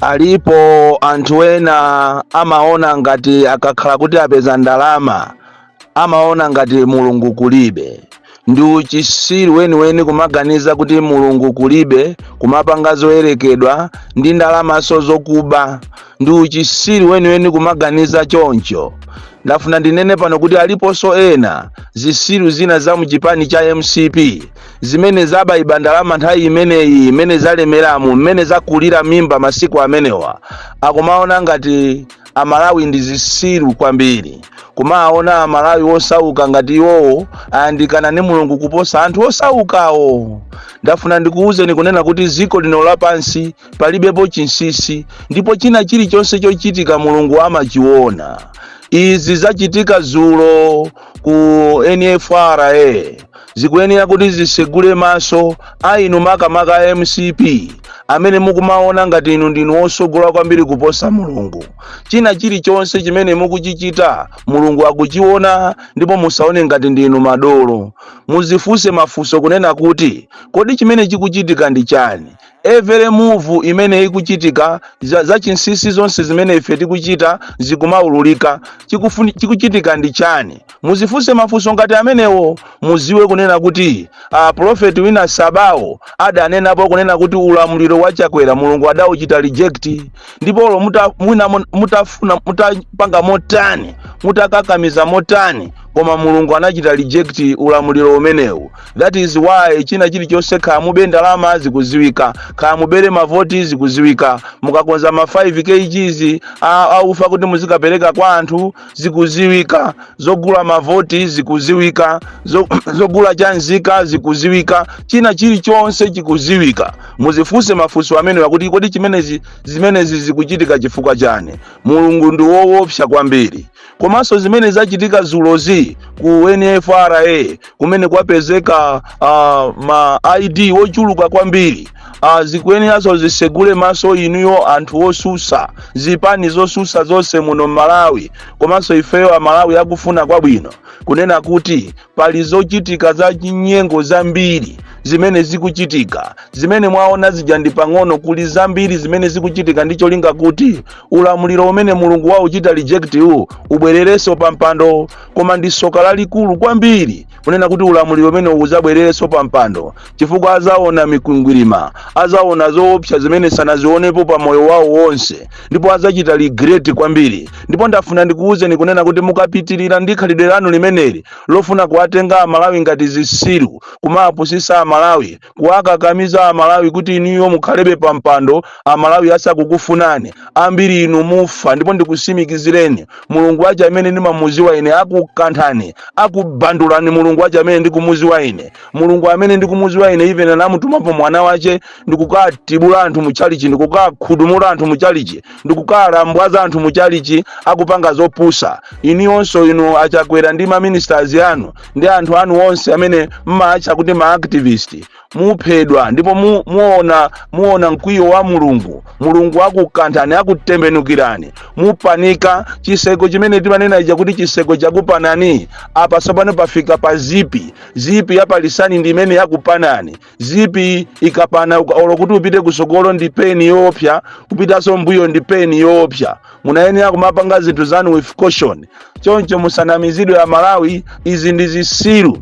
Alipo anthu ena amaona ngati akakhala kuti apeza ndalama amaona ngati mulungu kulibe ndi uchisiru weniweni kumaganiza kuti mulungu kulibe kumapanga zoyerekedwa ndi ndalamanso zokuba ndi uchisiru weniweni kumaganiza choncho ndafuna ndinene pano kuti aliponso ena zisiru zina za mchipani cha mcp zimene zabaiba ndalama nthawi imeneyi mmene zalemeramu mmene zakulira mimba masiku amenewa akumaona ngati amalawi ndi zisiru kwambiri kumaona amalawi osauka ngati iwowo ayandikana ndi mulungu kuposa anthu osaukawo ndafuna ndikuwuzeni kunena kuti ziko lino lapansi palibepo chinsisi ndipo china chilichonse chochitika mulungu amachiona izi zachitika zulo ku nfra zikuyenera kuti zisegule maso a inu makamaka a mcp amene mukumaona ngati inu ndinu osogola kwambiri kuposa mulungu china chilichonse chimene mukuchichita mulungu akuchiona ndipo musaone ngati ndinu madolo muzifunse mafunso kunena kuti kodi chimene chikuchitika ndi chani Every move imene ikuchitika, za, za chinsisi zonse zimene ife tikuchita zikumaululika. Chikufuni, chikuchitika ndi chani? Muzifunse mafunso ngati amenewo, muziwe kunena kuti a prophet wina Sabawo adanenapo kunena kuti ulamuliro wa Chakwera Mulungu adauchita reject, ndipo olo muta, mwina mun- mutafuna mutapanga motani mutakakamiza motani koma mulungu anachita reject ulamuliro umenewu that is why china chilichonse kaya mube ndalama zikuziwika kaya mubere mavoti zikuziwika mukakonza ma 5 kgs a- aufa kuti muzikapereka kwa anthu zikuziwika zogula mavoti zikuziwika zo- zogula cha nzika zikuziwika china chilichonse chikuziwika muzifunse mafunso amenewa kuti kodi chimene zimenezi zikuchitika chifukwa chani mulungu ndi woopsa kwambiri komanso zimene zachitika zulozi ku nfra kumene kwapezeka uh, ma id wochuluka kwambiri uh, zikuyeneranso zisegule maso inuyo anthu osusa zipani zosusa zonse muno mmalawi komanso ifeyo amalawi akufuna kwabwino kunena kuti pali zochitika za chinyengo zambiri zimene zikuchitika zimene mwaona zija ndi pang'ono kuli zambiri zimene zikuchitika ndi cholinga kuti ulamuliro umene mulungu wauchita reject uwu ubwererenso pa mpando koma ndi soka lalikulu kwambiri kunena kuti ulamuliro umenewu uzabwererenso pa mpando chifukwa adzaona mikwingwirima adzaona zoopsa zimene sanazionepo pa moyo wawo wonse ndipo adzachita regret kwambiri ndipo ndafuna ndikuwuzeni kunena kuti mukapitirira ndi khalidwe lanu limeneli lofuna kuwatenga amalawi ngati zisiru kumawapusisa amalawi kuwakakamiza amalawi kuti inuyo mukhalebe pa mpando amalawi asakukufunani ambiri inu mufa ndipo ndikusimikizireni mulungu wache amene ndimamuziwa ine akukanthani akubandulani mulungu wache amene ndikumuziwa ine mulungu amene ndikumuziwa ine even anamutumapo mwana wache ndikukatibula anthu muchalichi ndikukakhudumula anthu muchalichi ndikukalambwaza anthu muchalichi akupanga zopusa inuyonso inu a Chakwera ndi maministers anu ndi anthu anu onse amene mmaatcha kuti maactivist muphedwa ndipo muona mkwiyo wa mulungu mulungu akukanthani akutembenukirani mupanika chiseko chimene timanena ija kuti chiseko chakupanani apa tsopano pafika pa zipi zipi ya palisani ndi imene yakupanani zipi ikapana uka- olo kuti upite kusogolo ndi pain yoopsa kupitaso mbuyo ndi pain yoopsa munayenera kumapanga zinthu zanu with caution choncho musanamizidwe a malawi izi ndi zisiru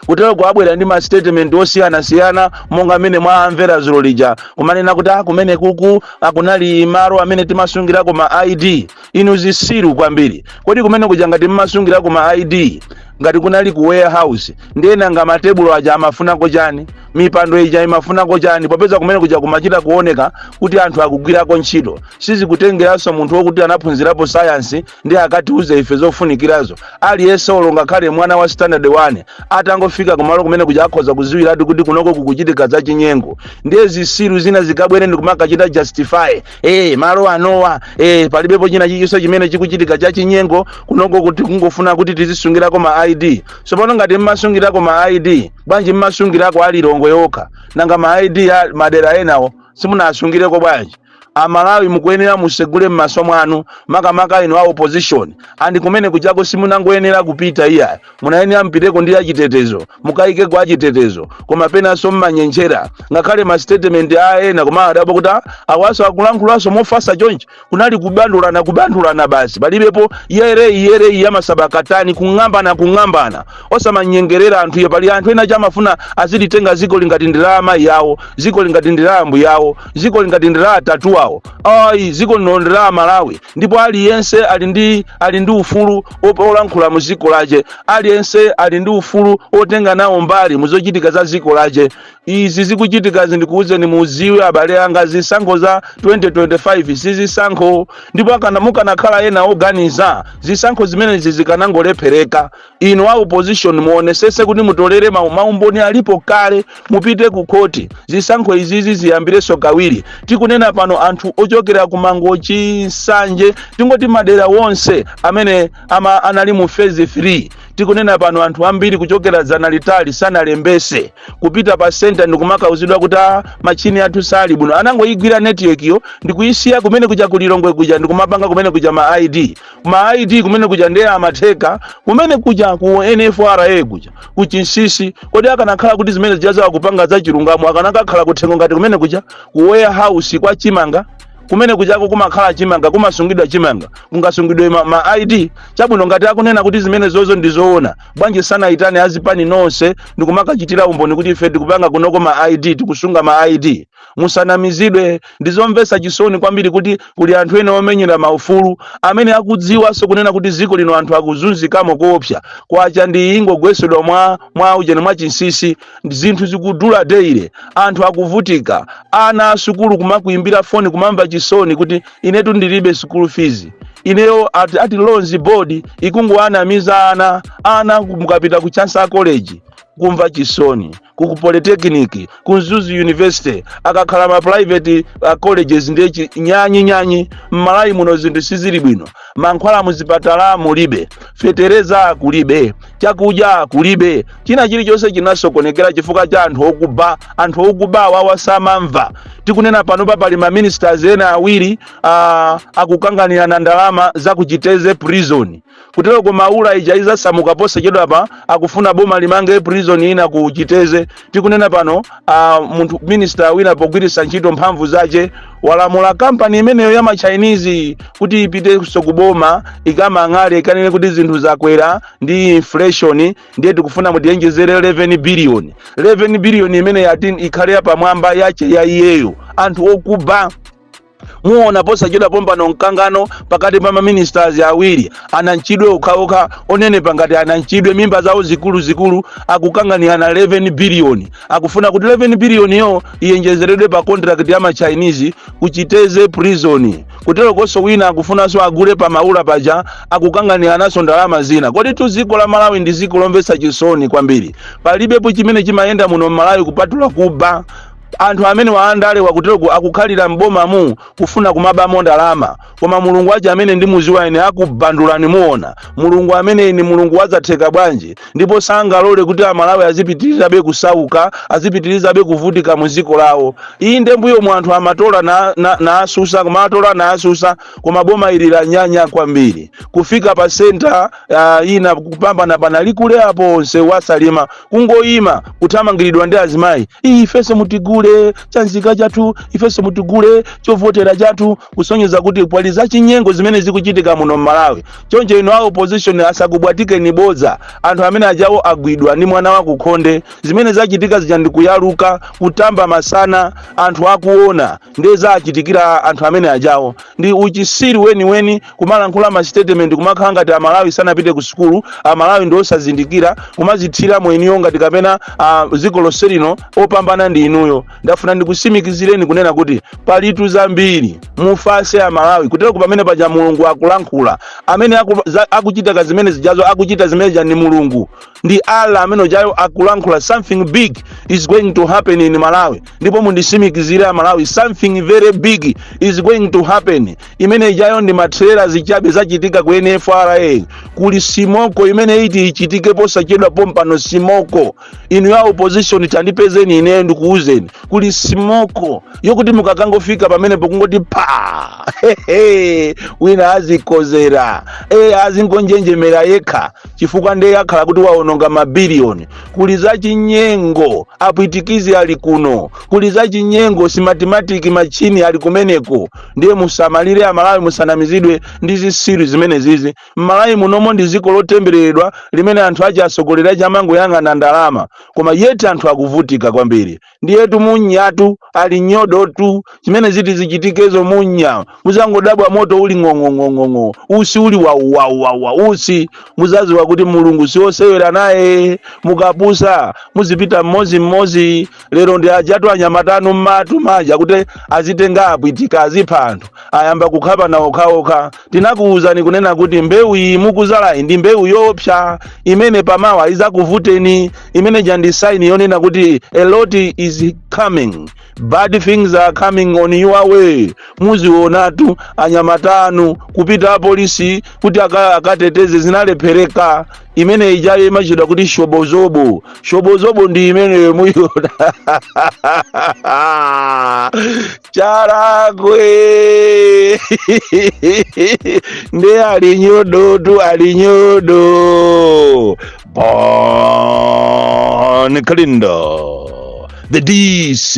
kutero akubwera ndi mastatement osiyanasiyana monga mmene mwaamvera zulo lija kumanena kuti a kumene kuja kunali malo amene timasungirako ma id inu zisiru kwambiri kodi kumene kuja ngati mmasungirako ma id ngati kunali ku warehouse ndiye nanga matebulo aja amafunako chani mipando ija imafunako chani popeza kumene kuja kumachita kuoneka kuti anthu akugwirako ntchito sizikutengeranso munthu wokuti anaphunzirapo sayansi nde akatiuze ife zofunikirazo aliyense olo ngakhale mwana wa standard 1 atangofika kumalo kumene kuja akhoza kuziwiratu kuti kunoko kukuchitika zachinyengo ndiye zisiru zina zikabwere ndikumakachita justify Eh, malo anowa eh, palibepo china chilichonse chimene chikuchitika cha chinyengo kunoko kuti kungofuna kuti tizisungirako ma id tsopano ngati mmasungirako ma id bwanji mmasungirako a Lilongwe yokha nanga ma id a madera enawo simunasungireko bwanji amalawi mukuyenera musegule m'maso mwanu makamaka inu a opposition and kumene kujako simunangoyenera kupita iyayi munayenera mpiteko ndi achitetezo mukayikeko achitetezo koma penanso mmanyengerera ngakhale mastatement a ena koma ndadabwa kuti a- awaso akulankhulanso mofasa chonchi kunali kubandulana kubandulana basi palibepo yereyi yereyi yamasabakatani kung'ambana kung'ambana osamanyengerera anthu iye pali anthu ena samafuna azilitenga ziko lino ngati ndi la amayi awo ziko lino ngati ndi la ambuya awo ziko lino ngati ndi la atate awo ayi ziko lino ndi la amalawi ndipo aliyense ali ndi ali ndi ufulu olankhula mu dziko lache aliyense ali ndi ufulu otenga nawo mbali mu zochitika za dziko lache izi zikuchitika zi ndikuwuzeni muziwe abale anga zisankho za 2025 si zisankho ndipo akana mukanakhala ena oganiza zisankho zimenezi zikanangolephereka inu a opposition muonesese kuti mutolere mau maumboni alipo kale mupite ku khoti zisankho izizi ziyambirenso kawiri tikunena pano anthu ochokera ku mangochi nsanje tingoti madera wonse amene ama anali mu phase 3 tikunena pano anthu ambiri kuchokera dzana litali sanalembese kupita pa senta ndikumakauzidwa kuti "Ah, machini athu sali bwino anangoyigwira netiwekiyo ndikuyisiya kumene kuja kulilongwe kuja ndikumapanga kumene kuja ma id ma id kumene kuja ndiye amatheka kumene kuja ku nifra kuja kuchinsisi kodi akanakhala kuti zimene zijazo akupanga za chilungamo akanakakhala kuthengo ngati kumene kuja ku warehouse kwa chimanga kumene kujako kumakhala chimanga kumasungidwa chimanga kungasungidwe ma, ma id chabwino ngati akunena kuti zimenezozo ndi zoona bwanji sanayitane azipani zonse ndikumakachitira umboni kuti ife tikupanga kunoko ma id tikusunga ma id musanamizidwe ndizomvetsa chisoni kwambiri kuti kuli anthu ena omenyera maufulu amene akudziwanso kunena kuti dziko lino anthu akuzunzikamo koopsa kwacha ndi iyi ingogwesedwa mwa mwa ujeni mwa chinsisi zinthu zikudula deile anthu akuvutika ana asukulu kumakuimbira foni kumamva chisoni kuti inetu ndilibe sukulu fizi ineyo ati, ati loans board ikungowanamiza ana ana mukapita ku chancellor college kumva chisoni ku ku polytechnic ku mzuzu university akakhala ma private uh, colleges ndi chi- nyanyi nyanyi mmalawi muno zinthu sizili bwino mankhwala muzipatala mulibe fetereza kulibe chakudya kulibe china chilichonse chinasokonekera chifukwa cha anthu okuba anthu okuba awawa samamva tikunena panopa pali ma ministers ena awiri uh, akukanganirana ndalama za kuchiteze prison Kuteroko maula ija izasamuka posachedwapa akufuna boma limange prison ina ku chiteze tikunena pano a munthu minister wina pogwiritsa ntchito mphamvu zace walamula kampani imeneyo ya machinese kuti ipitenso ku boma ikamang'ale ikanene kuti zinthu zakwera ndi inflation ndiye tikufuna mutiwonjezere 11 billion 11 billion imene yati ikhale yapamwamba yace ya iyeyo anthu okuba muona posachedwa pompano mkangano pakati pa maministers awiri ananchidwe okhaokha onenepa ngati ananchidwe mimba zawo zikuluzikulu akukanganirana 11 biliyoni akufuna kuti 11 biliyoniyo iyenjezeredwe pa contract ya machinese kuchiteze prison kuterokonso wina akufunanso agule pa maula paja akukanganirananso ndalama zina koditu dziko la malawi ndi dziko lomvetsa chisoni kwambiri palibepo chimene chimayenda muno mmalawi kupatula kuba Anthu amenewa andale wakuteroku akukhalira m'bomamu kufuna kumabamo ndalama koma mulungu wace amene ndimuziwa ine akubandulani muona mulungu amene ndi mulungu wazatheka bwanji ndipo sangalole kuti amalawi azipitirizabe kusauka azipitirizabe kuvutika mu dziko lawo inde mbuyomu anthu amatola na, na, na asusa koma atola na asusa koma boma ili lanyanya kwambiri kufika pa senta uh, ina kupambana pa nalikule apo onse wa salima kungoyima kuthamangiridwa ndi azimayi iyi ifenso mutigule chanzika chathu ifenso mutigule chovotera chathu kusonyeza kuti pali zachinyengo zimene zikuchitika muno m'malawi choncho inu a opposition asakubwatikeni bodza anthu amene ajawo agwidwa ndi mwana wa kukhonde zimene zachitika zija ndikuyaluka kutamba masana anthu akuona ndiye za chitikira anthu amene ajawo ndi uchisiru weniweni kumalankhula masitetementi kumakhala ngati amalawi sanapite ku sukulu amalawi ndi osazindikira kumazithira mweni inuyo ngati kapena ah, dziko lonse lino opambana ndi inuyo ndafuna ndikusimikizireni kunena kuti palitu zambiri mufase amalawi kuteroku pamene paja mulungu akulankhula amene aku, za, akuchita ka zimene zijazo akuchita zimene zija ni mulungu ndi allah amene ujayo akulankhula something big is going to happen in malawi ndipo mundisimikizire amalawi something very big is going to happen imene ijayo ndi matrela zichabe zachitika ku nfra kuli simoko imene iti ichitike posachedwa pompano simoko inuyo a opposition tandipezeni ineyo ndikuuzeni kuli simoko yokuti mukakangofika pamenepo kungoti pa wina azikozera azingonjenjemera yekha chifukwa ndiye akhala kuti waononga mabiliyoni kuli za chinyengo apwitikizi ali kuno kuli za chinyengo simatimatiki machini ali kumeneko ndiye musamalire amalawi musanamizidwe ndi zisiru zimene zizi mmalawi munomo ndi dziko lotembereredwa limene anthu ache atsogoleri ache amangoyang'ana ndalama koma yeti anthu akuvutika kwambiri ndiyetu munyatu ali nyodotu zimene ziti zichitikezo munya muzangodabwa moto uli ng'ong'ong'ong'ong'o usi uli wauwauwawa usi muzaziwa kuti mulungu siosewera naye mukapusa muzipita mmozi mmozi lero ndi ajatu anyamatanu mmati muja kuti azitenga apwitika azipha anthu ayamba kukhapana okhaokha tinakuwuzani kunena kuti mbewu iyi mukuzalayi ndi mbewu yoopsa imene pamawa izakuvuteni imene ija ndi saini yonena kuti a lot is coming bad things are coming on your way muzionatu anyamatanu kupita apolisi kuti aka- akateteze zinalephereka imene ijayo imatchedwa kuti shobozobo shobozobo ndi imeneyo muyona charagwe nde ali nyodotu ali nyodo bon kalindo the dc